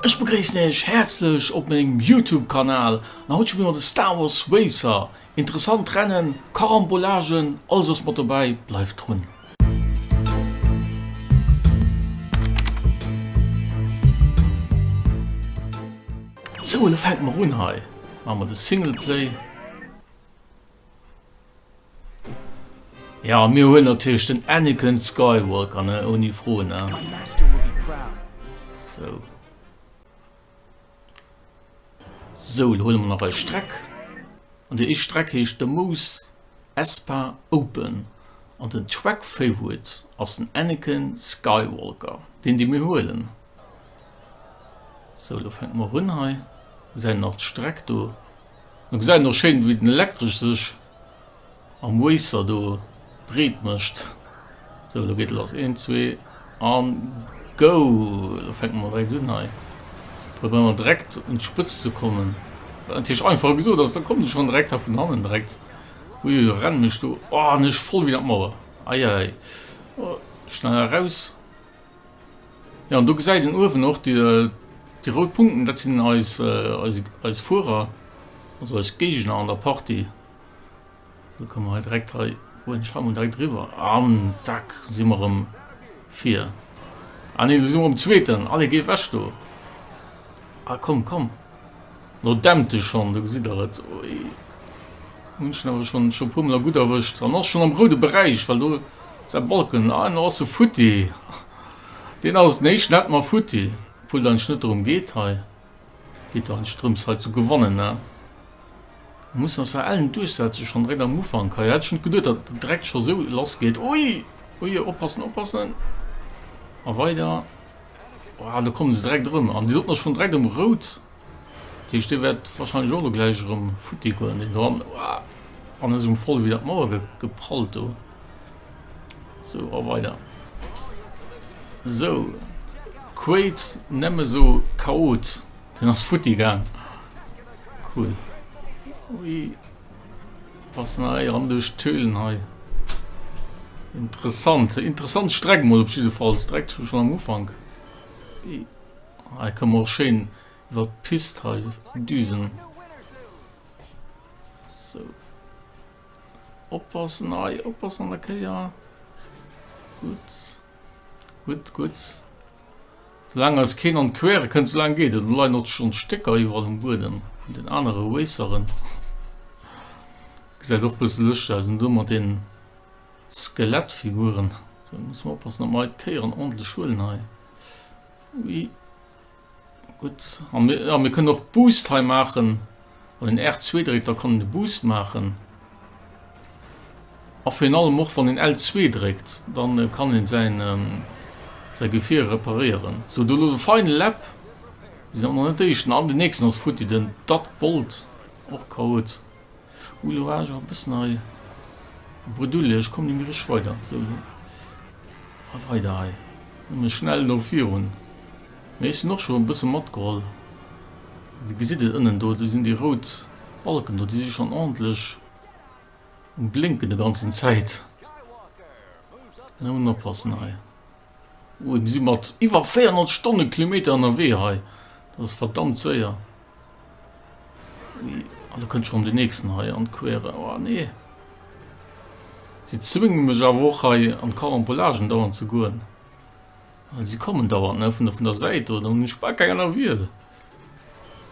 Ech begréissen Iech häerzlech op mengem Youtube Kanal an haut spille mer de Star Wars Racer, interessant Rennen, Carambolagen, alles ass mat dobäi, bleift drun. Sou elo fänke mer un, hei maache mer de Singleplay. Ja mir hunn natierlech den Anakin Skywalker ne, ouni Fro ne. So. So lo huele mer nach eis Streck. An déi éischt Streck heescht de Mous Espa Open. An den Track Favorite ass den Anakin Skywalker. Deen dee mir huelen. So lo fänke mer un hei. Gesäit een nach d'Streck do. Et gesäit och schéin wéi den Elektresch sech am Wazer do breet mécht. Sou lo geet et lass, een, zwee an go! Lo fänkt mer direkt un hei, probéiere mer direkt un d'Spëtzt ze kommen, wat natierlech einfacher gesot ass, da kommen se schonn direkt hei vun hannen direkt, uiuiui, rennen mech do, oh an ech voll wéi an d'Mauer, eieiei, oh, schnell eraus, Ja, an do gesäit een uewen och déi rout Punkten, dat sinn eis Fuerer, also eis Géigner an der Partie. Sou komme mer direkt hei direkt riwwer an dack si mer erëm vir. Ah nee, do si mer um zweeten, allez géi ewech do. Ah komm, komm. No dämte schon, do gesitt der et, oi, hun schon awer schon schon puer mol a gudd erwëscht, an ass schon am roude Beräich, well do säi Balken, ah no ass e futti, deen ass nee Schnett ma futti, obwuel et eigentlech net dorëm geet hei, et geet eigentlech drëms hei ze gewannen, ne, mer mussen ass der ellen duerchsetzen, schon direkt am Ufank hei, hätt ech net geduet datt et direkt schon esou lass geet, ui ui oppassen oppassen, a weider, ah do kommen se direkt erëm, an déi soten ass schon direkt um roud. Dat heescht, dee wäert wahrscheinlech och elo gläich erëm futti goen, deen do. An ass um voll ewéi an d'Mauer geprallt do. Sou, a weider. Sou, Quaid nemme sou Chaot, deen ass futti gaang. Cool. Ui. Pass na hei ran duerch d'Höhlen hei. Interessant, interessant Streck mol op jiddefalls, direkt schon am Ufank. Hei kann mer och schéin iwwer d'Pist hei düsen. Sou. Oppassen, ei, oppassen an der Kéier. Gut. Gut, gut. Solang als keen an d'Quere kënnt, so lang geet et. Lo leien och schon Stécker iwwerall um Buedem vun den anere Raceren. Gesäit och bësse lëschteg aus. Do mat den Skelettfiguren. Sou, muss mer oppassen, dass mer hei d'Kéieren ordntlech huelen hei. Ui. Gutt. A mir, a mir kënnen och Boost hei maachen. Wann een R2 dréckt, da kann een de Boost maachen. A virun allem och wann een L2 dréckt, dann kann een säin, säi Gefier reparéieren. Sou, do elo de Final Lap. Mir sinn awer nach net Éischten. An den nächsten ass futti, den Dutbolt, och chaot. Hu lo awer e bëssen hei Bredouille, ech komm ni méi richteg weider. Esou lo a weider hei, nëmme schnell no virun. Mee ech sinn och scho e bësse matgeholl. Dir gesitt et ënnen do, do sinn déi rout Balken do, déi si schonn ordentlech um Blénken de ganzen Zäit. Elo mol oppassen hei. Mir si mat iwwer 400 Stonnekilometer ënnerwee hei. Dat ass verdammt séier. Ui, a lo kënnt schonn den nächsten hei an d'Quere. Oh nee. Si zwénge mech awer och hei an d'Carambolagen dauernd ze goen. Well si kommen dauernd, ne, vun der, vun der Säit do. Dann hunn ech bal keng aner Wiel.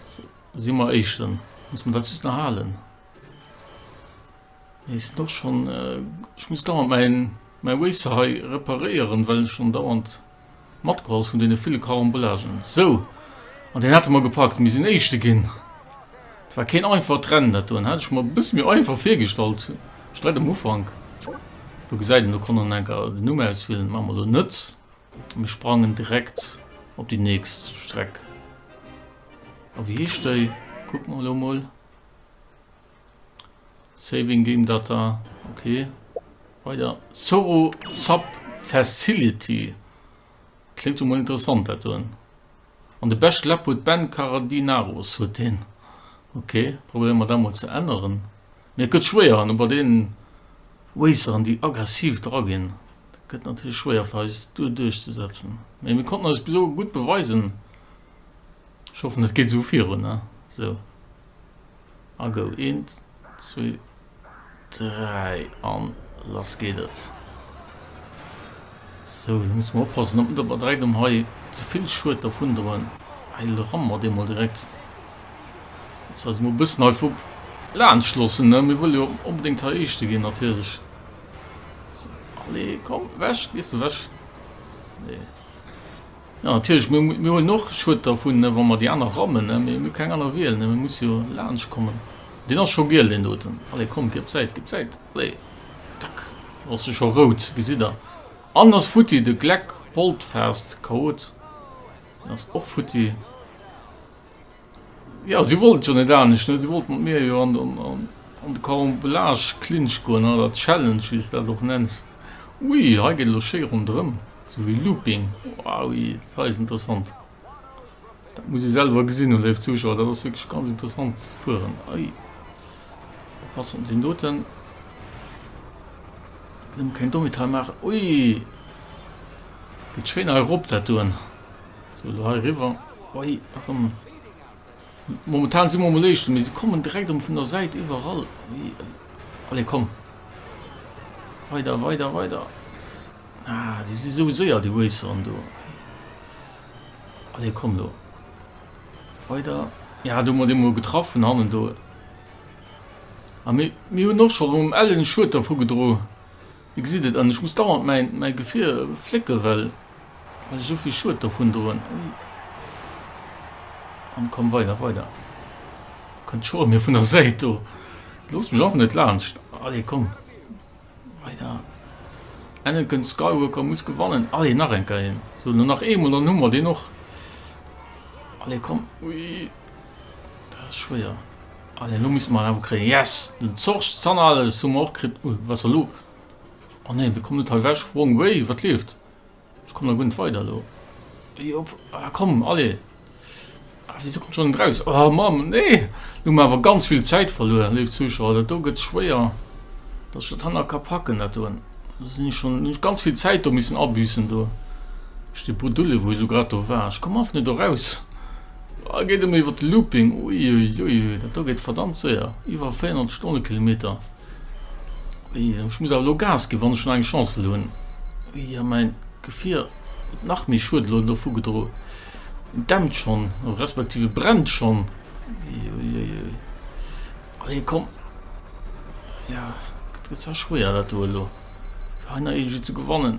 Si mer Éischten. Muss mer dat just nach halen. Eis och schon. Ech muss dauernd mäin mäi Waze hei reparéieren well en schon dauernd matgeholl ass vun deene ville Carambolagen. Sou, an deen hate mer gepackt. Mir sinn Éischte ginn. Et war keen einfacht Rennen dat doen. Hat ech mer e bësse méi einfach virgestallt, sträit um Ufank. Do gesäit een, do konnt en enker den Numm auswielen. Maache mer elo net. Mir sprangen direkt op déi nächst Streck. A wéi heescht déi? Kucke mer elo mol. Saving Game Data, ok. Weider, Soro Sub Facility, kléngt emol interessant dat doen. An de beschte Lab huet Ben Karadinaros, huet deen. Ok, probéiere mer dat mol ze änneren. Mee et gëtt schwéier an bei deenen Raceren déi aggressiv dra ginn, dat gëtt natierlech schwéier fir eis do duerchzesetzen. Mee mir konnten eis bis elo gutt beweisen. Ech hoffen et geet esou virun, ne? Sou. A go een zwee dräi an lass geet et. Sou lo muss mer oppassen dat mer der bei dräi dem hei zevill Schued dervun droen. Hei rammen mer deemol direkt. Jetzt eis mo bëssen hei vu laanscht lossen ne mir wëlle jo onbedingt hei eischte ginn natierlech. Allee komm wech gees du wech. Nee. Jo natierlech, mir hunn och Schued dervun, wa mer déi aner rammen, mä mir hu keng aner Wiel, mir musse jo laanscht kommen. Deen ass scho giel deen doten, allez komm gib Zäit, gib Zäit, allez tack, lo ass e scho rout, gesitt der, an en ass futti, de Gleck Holdfast, Chaot, en ass och futti. Jo, si wollt jo net anescht, ne? Si wollt mat mir jo an de Carambolage-Clinch goen, oder Challenge, wéi s de dat och nenns. Ui, hei geet elo schéi ronderëm, sou wéi Looping. Ui, dat hei ass interessant. Dat musst Dir selwer gesinn hunn, léif Zuschauer, dat ass wierklech ganz interessant ze fueren. Ui, oppassen op deen doten, nëmme keng Dommheet hei maachen. Ui, geet schéin hei erop, dat doen. So, do hei riwwer. Oi, erëm. Momentan si mer um Léischten, mee se kommen direkt um vun der Säit iwwerall. Allez, komm. Weider, weider, weider. Ah, die si sou séier, déi Racern do. Allez, komm do. Weider. Ja, du mat dem mol getroffen hannen do. A mir hunn och schon um ellen Schued dervu gedro. Dir gesitt et, an ech muss dauernd mäi Gefier flécken, well ech esou vill Schued dovun droen. Ui, an komm weider, weider, do kënnt d'Schoer mir vun der Säit, do loosst mech einfach net laanscht, allez, komm weider, Anakin Skywalker muss gewannen, allez, nach eng Kéier, sou, lo nach eemol, dann hu mer deen och, allez, komm, ui, dat ass schwéier. An elo misst mer en awer kréien. Yes! Den Zorch Zanales hu mer och kritt. Ui, wat ass elo? Oh nee, dee kommt net hei ewech. Wrong way. Wat leeft? Ech kommen da guer net weider elo. Hei op. Ah, komm, allez. Ah, wéisou kommt schonn en draus? Oh Mamm, nee! Elo hu mer awer ganz vill Zäit verluer, léif Zuschauer. Dat do gëtt schwéier, dass ech dat hanner ka packen, dat doen. Elo sinn ech schonn, hunn ech ganz vill Zäit do missen abüssen do, duerch dee Brudulle, wou ech elo grad do war. Ech kommen einfach net do raus. Aa geet emol iwwert de Looping, uiuiuiui dat do geet verdammt séier, iwwer 400 Stonnekilometer, ui ech muss awer elo Gas ginn wann ech nach eng Chance wëll hunn, ui a mäin Gefier huet nach méi Schued elo dovu gedroen, en dämpt schonn respektiv e brennt schonn, uiuiuiui, allez komm, jo dat gëtt zwar schwéier dat do elo. Energie zu gewannen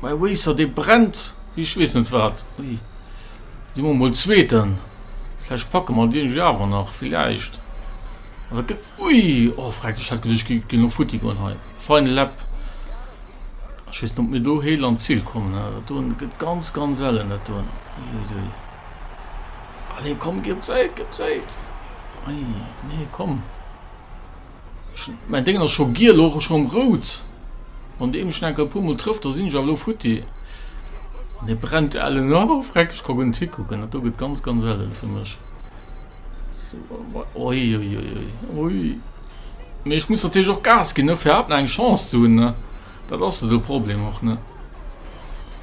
mei Waser dee brennt wéi ech wees net wat ui si mer mol zweeten vläch packe mer dee jo awer nach villäicht wat gëtt ui o freck ech hat geduerch gi ginn no futti goen hei fein lepp ech wees net mir do heel an d'Zil kommen ha do gëtt ganz ganz ellen dat doen ui dei allee komm ginn d'Zäit ginn d'Zäit ui nee komm Mäin Déngen ass scho giel, och schonn rout. Wann dee mech enker e puer Mol trëfft, da sinn ech awer elo futti. An e brennt ellen a oh, freck, ech ka guer net hikucken, dat do gëtt ganz, ganz ellen fir mech. Oi, oi, oi, oi, oi. Mee ech muss natierlech och Gas ginn, ne, fir haut nach eng Chance ze hunn, ne. Dat ass jo de Problem och, ne.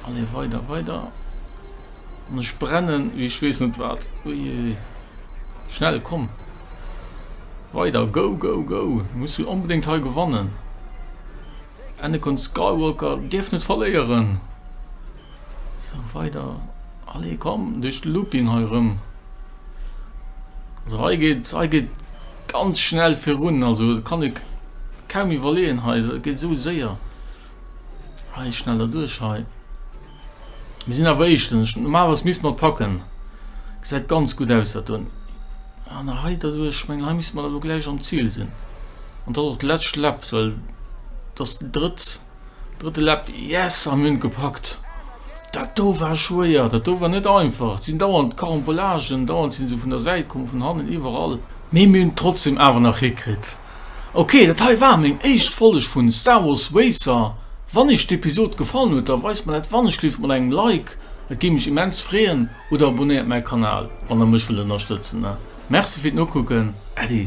Allez, weider, weider. An ech brennen wéi ech weess net wat. Ui, ui, ui. Schnell, komm! Weider, go go go! Muss du onbedéngt hei gewannen! Anakin Skywalker dierf net verléieren! So weider, allez komm, duerch de Looping hei rëm! Also hei geet, hei geet ganz schnell virun, also kann ik kaum iwwerleeën hei, dat geet esou séier! Hei, schneller duerch hei! Mir sinn awer éischtens, normalerweis misst mer et packen, gesäit ganz gutt aus dat do, an der hei derduerch, ech mengen hei misst mer elo gläich am Zil sinn, an dat ass och d'lescht Lap, well dat ass déi drëtt, drëtte Lap, yes a mir hunn et gepackt. Dat do war schwéier, dat do war net einfach, et sinn dauernd Carambolagen, dauernd si se vun der Säit komm, vun hannen, iwwerall, mee mir hunn et trotzdeem awer nach hikritt. Ok dat hei war meng éischt Folg vun Star Wars Racer, wann iech d'Episod gefallen huet da weist mer dat wannechleeft mat engem Like, et géif mech immens freeën, oder abonéiert mäi Kanal wann der mech wëllt ënnerstëtzen. Merci fir d'Nokucken, Äddi.